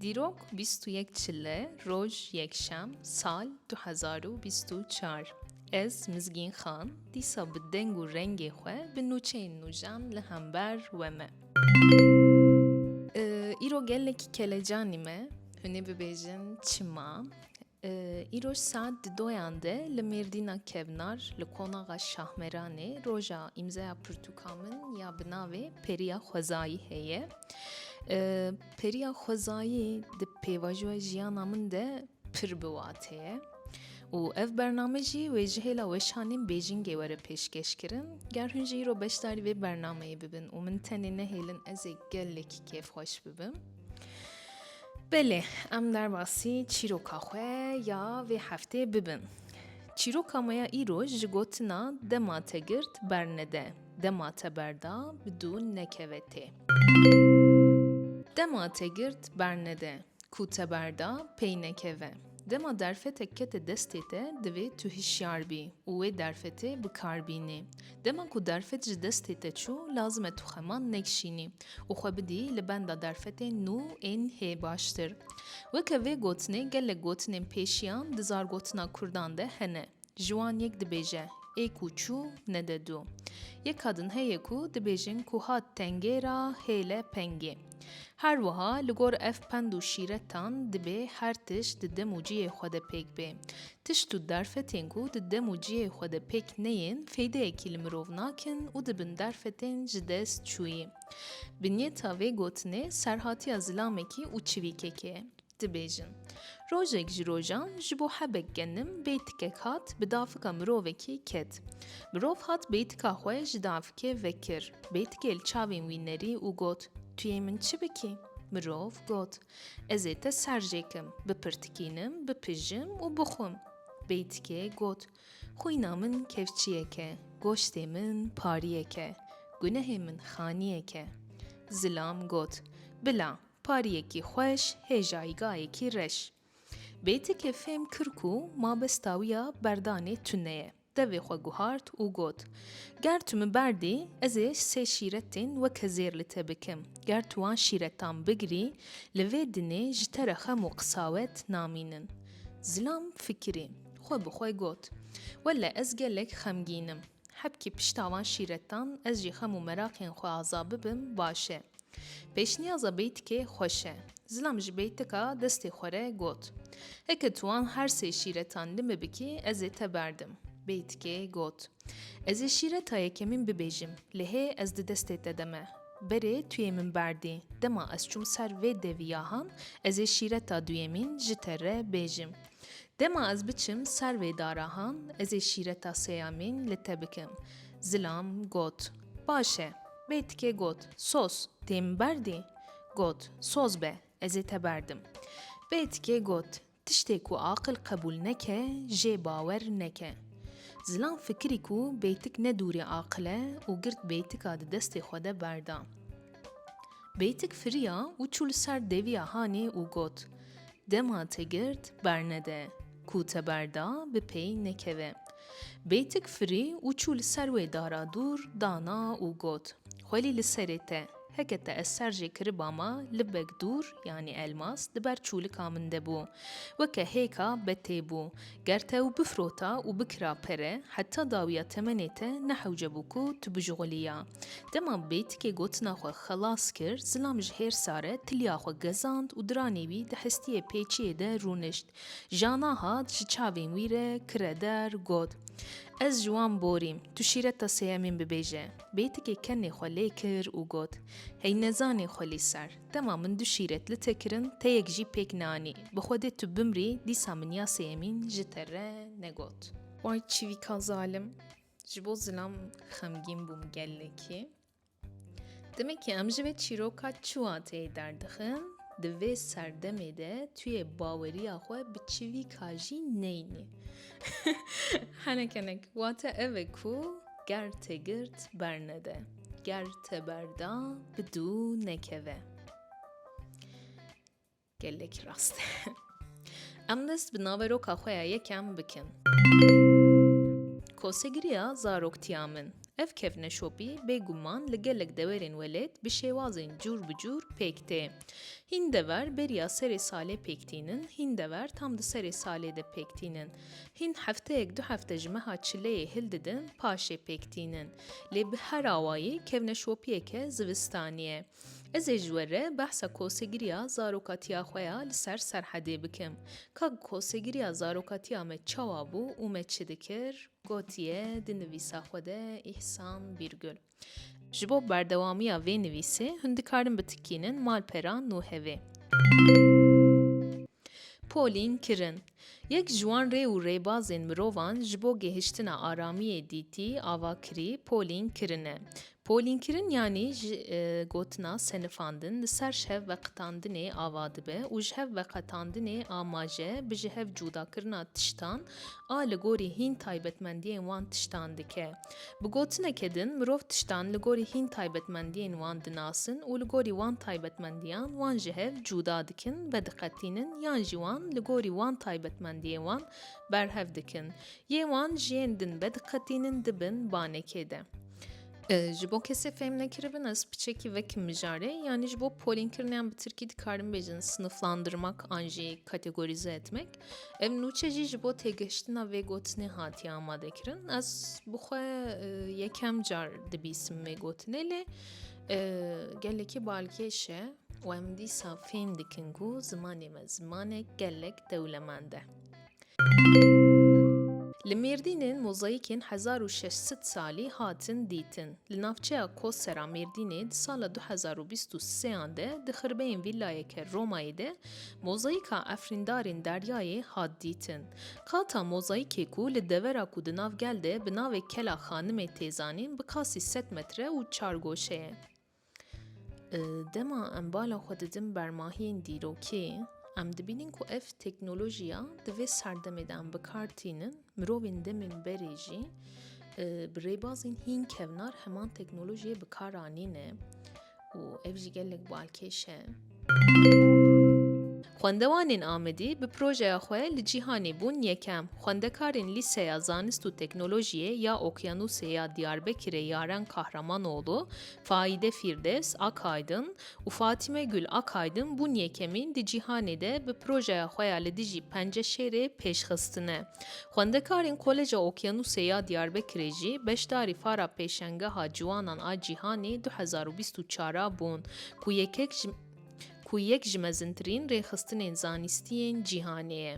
Dîrok bîst û yek çile roj yekşem sal du hezar û bîst û çar ez Mizgîn Xan dîsa bi deng û rengê xwe bi nûçeyên nû jan li hember we me. Îro gelekî kelecanî me hûnê bibêjin çima Îro saet di doyan de li Mêrdîna Kevnar li Konaxa Şahmeranê roja îmzeya pirtûka min ya bi navê Periya Xwezayî heye. Periya Xwezayî di pêvajoya jiyana min de pir bi watê ye û ev bername jî wê ji hêla weşanên Bêjingê were pêşkêş kirin. Ger hûn jî îro beşdarî vê bernameyê bibin û min tenê nehêlin ez ê gelekî kêfxweş bibim. Belê, em derbasî çîroka xwe ya vê heftê bibin. Çîroka me ya îro ji gotina dema te girt bernede, dema te berda bi dû nekeve tê. Dema te girt bernede, ku te berda pey nekeve. Dema derfetek kete destê te divê tu hişyar bî û wê derfetê bi kar bînî. Dema ku derfet ji destê te çû lazim e tu xeman nekişînî û xwe bidî li benda derfetên nû ên hê baştir. Weke vê gotinê gelek gotinên pêşiyan di zargotina kurdan de hene. Ji wan yek dibêje, Ê ku çû, nede dû. Yek kadin heye ku dibêjin ku hat tengê ra hêle pengê. Her wiha li gor ev pend û şîretan dibê her tişt di dem û cihê xwe de pêk bê. Tişt û derfetên ku di dem û cihê xwe de pêk neyên feydeyekî li mirov nakin û dibin derfetên ji dest çûyî. Binyeta vê gotinê serhatiya zilamekî û çivîkekê ye. Dibêjin, Rojek ji rojan ji bo hebek genim bêtikek hat bi dafika mirovekê ket. Mirov hat bêtika xwe ji dafikê vekir. Bêtikê li çavên wî nerî û got, Tu yê min çi bikî? Mirov got, Ez ê te ser jê kim, bipirtikînim, bipijim û bixwim. Bêtikê got, Xwîna min kevçiyek e, goştê min pariyek e, gunehê min xaniyek e. Zilam got, Bila, Pariyekî xweş hê jayîgayekî reş. Bêtikê fêm kir ku mabesta wî ya berdanê tune ye. Devê xwe guhart û got, Ger tu min berdî, ez ê sê şîretên weke zêr li te bikim. Ger tu wan şîretan bigirî, li vê dinê ji te re xem û qisawet namînin. Zilam fikirî. Xwe bi xwe got, Wele ez gelek xemgîn im. Hebkî pişta van şîretan ez jî xem û meraqên xwe aza bibim baş e. Pêşniyaza beytikê xweş e. Zilam ji beytika destê xwe re got. Heke tu wan her sê şîretan li min bikî ez ê te berdim. Beytikê got. Ez ê şîreta yekemîn bibêjim, lê hê ez di destê te de me. Berê tu yê min berdî. Dema ez çûm ser vê devî yahan, ez ê şîreta duyemîn ji te re bêjim. Dema ez biçim ser vê darahan, ez ê şîreta sêyamîn li te bikim. Zilam got, Baş e. Bê tikê got, Sos, tê min berdî? Got, Soz be, ez ê te berdim. Bê tikê got, Tiştê ku aqil qebûl neke, jê bawer neke. Zilam fikirî ku bê tik ne dûrê aqil e û girt bê tika di destê xwe de berda. Beytik firiya û çû li ser deviya hanê û got, Dema te girt bernede, ku te berda bi pey nekeve. Beytik firî û çû li ser wê dara dûr dana û got, Xwelî li serê te, heke te ez ser jê kiriba ma libek dûr, yanî elmas, li ber çûlika min de bû. Weke hêka betê bû. Ger te û bifrota û bikira pere heta dawiya temenê te nehewcebû ku tu bijixulîya. Dema bêtikê gotina xwe xelas kir, zilam ji hêr sare tiliya xwe gezand û diranê wî di hestiyê pêçiyê de rûnişt. Jana hat ji çavên wî re kire der, got, Ez ji wan borîm, tu şîreta sêyemîn bibêje. Bêtikê kenê xwe lê kir û got, Hey nezanê xwe lîser. Dema min du şîret li te kirin, teyek jî pêk neanî. Bi xwe dê tu bimrî, dîsa min ya sêyemîn ji te re negot. Vay çivîka zalim! Ji bo zilam xemgîn bûm gelekî. Demekî em ji vê çîroka çiwateyê derdixin, di vê serdemê de tu yê baweriya xwe bi çivîka jî neynî. Henek henek, wate ev e ku ger te girt bernede. Ger te berda bi dû nekeve. Gelek rast. Em dest bi naveroka xwe ya yekem bikin. Kosegiriya zaroktiya min. Ev kevneşopî bêguman li gelek dewerên welêt bi şêwazên cûr bi cûr pêk tê. Hîn dever beriya serê salê pêk tînin, hîn dever tam di serê salê de pêk tînin. Hîn hefteyek du hefte ji meha çileyê hil didin, paşê pêk tînin. Lê bi her awayî kevneşopiyeke zivistanî ye. Ez ê ji we re behsa kosegiriya zarokatiya xwe ya li ser Serhedê bikim. Ka kosegiriya zarokatiya me çawa bû û me çi dikir? Gotiye di nivîsa xwe de Îhsan Bîrgul. Ji bo berdewamiya vê nivîsê hûn dikarin bitikînin malpera nû hevê. Polîn kirin. Yek ji wan rê û rêbazên mirovan ji bo gihiştina aramiyê dîtî ava kirî polîn kirin e. Polînkirin yanî ji gotina senifandin li ser ji hev veqetandinê ava dibe û ji hev veqetandinê amaje bi ji hev cûdakirina tiştan a li gorî hîn taybetmendiyên wan tiştan dike. Bi gotineke din mirov tiştan li gorî hîn taybetmendiyên wan dinasin û li gorî wan taybetmendiyan wan ji hev cûda dikin, vediqetînin yan jî wan li gorî wan taybetmendiyên wan berhev dikin. Yê wan ji yên din vediqetînin dibin banekê de. Ji bo kesê fêm nekiribin ez piçekî vekim mijarê yanî ji bo polînkiriniyan bi tirkî dikarim bêjin siniflandırmak an jî kategorize etmek. Ev nûçe jî ji bo têgihiştina vê gotinê hatiye amadekirin. Ez bixwe e, yekem car dibîsim vê gotinê lê e, gelekî balkêş e û em dîsa fêm dikin ku zimanê me zimanek gelek dewlemend e. Li Mêrdînên mozaîkên 1600 salî hatin dîtin. Li navçeya Kosera Mêrdînê di sala 2023 de di xirbeyên vîlayeke Romayê de Mozaîka efrîndarên deryayê hat dîtin. Kata mozaîkê ku li devera ku di nav gel de bi navê Kela Xanimê tê zanîn bi kasî sed metre û çar goşe ye. Dema em bala xwe didin bermahiyên dîrokê, em dibînin ku ev teknolojiya di vê serdemê de em bi kar tînin Mirovên demên berê jî bi rêbazên hîn kevnar heman teknolojiyê bi kar anîne û ev jî gelek balkêş e. Xwendewanên Amedî bi projeya xwe li cîhanê bûn yekem. Xwendekarên Lîseya Zanist û Teknolojiyê ya Okyanusê ya Diyarbekirê Yaren Kahramanoğlu, Faide Fîrdes, Akaydın û Fatîme Gul Akaydin bûn yekemîn di cîhanê de bi projeya xwe ya li dijî penceşêrê pêşxistine. Xwendekarên Koleja Okyanûsê ya Diyarbekirê jî beşdarî fara Pêşengeha Ciwanan a Cîhanê du hezar û bîst û çar a bûn ku yekek ji ku yek ji mezintirîn rêxistinên zanîstiyên cîhanê ye.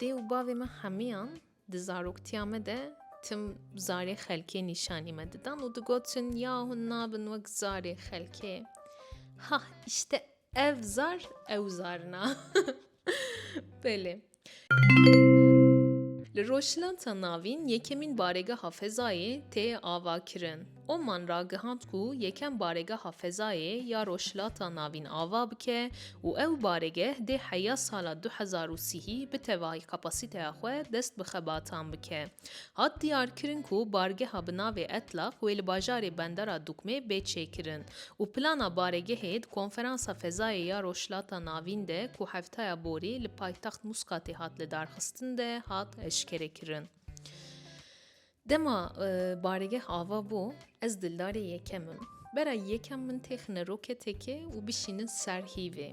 Dê û bavê me hemiyan Di zaroktiya me de tim zarê xelkê nîşanî me didan û digotin ya hûn nabin wek zarê xelkê. Ha işte ev zar ew zarina. Belê. Li Rojhilata Navîn yekemîn baregeha fezayê tê avakirin. Oman ragihand ku yekem baregeha fezayê ya Rojhilata Navîn ava bike û ew baregeh dê heya sala du hezar û sihî bi tevahî kapasîteya xwe dest bi xebatan bike. Hat diyarkirin ku bargeha bi navê Etlaq wê li bajarê Bendera Dukmê bê çêkirin û plana baregehê di Konferansa Fezayê ya Rojhilata Navîn de ku heftaya borî li paytext Muskatê hat lidarxistin de hat eşkerekirin. Dema barêgeh ava bû, ez dildarê yekem im. Bera yekem min têxine roketeke û bişînin li ser hîvê.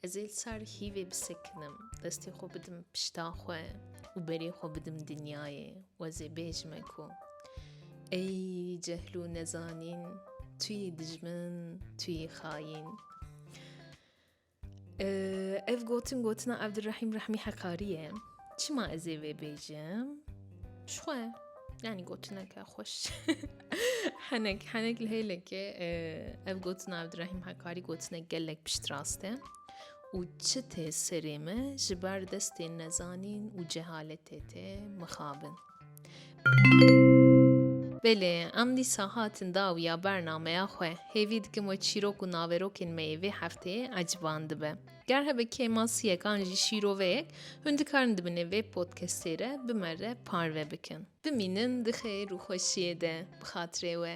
Ez ê li ser hîvê bisekinim, destê xwe bidim pişta xwe û berê xwe bidim dinyayê û ez ê bêjime ku Ey cehl û nezanîn, tu yî dijmin, tu yî xayîn. Ev gotin gotina Abdurrahim Rahmi Hakkari ye. Çima ez ê vê bêjim? Ji xwe yanî gotineke xweş henek henek li hêlekê ev gotina Abdurrahim Hakkari gotine gelek pişt rast e û çi tê serê me ji ber destên nezanîn û cehaletê tê mixabin. Belê, em dîsa hatin dawiya bernameya xwe. Hêvî dikim we çîrok û naverokên me yê vê hefteyê eciban dibe. Ger hebe kêmasiyekan jî şîroveyek, hûn dikarin di binê vê podcastê re bi me re parve bikin. Bimînin di xeyr û xweşiyê de bi xatirê we.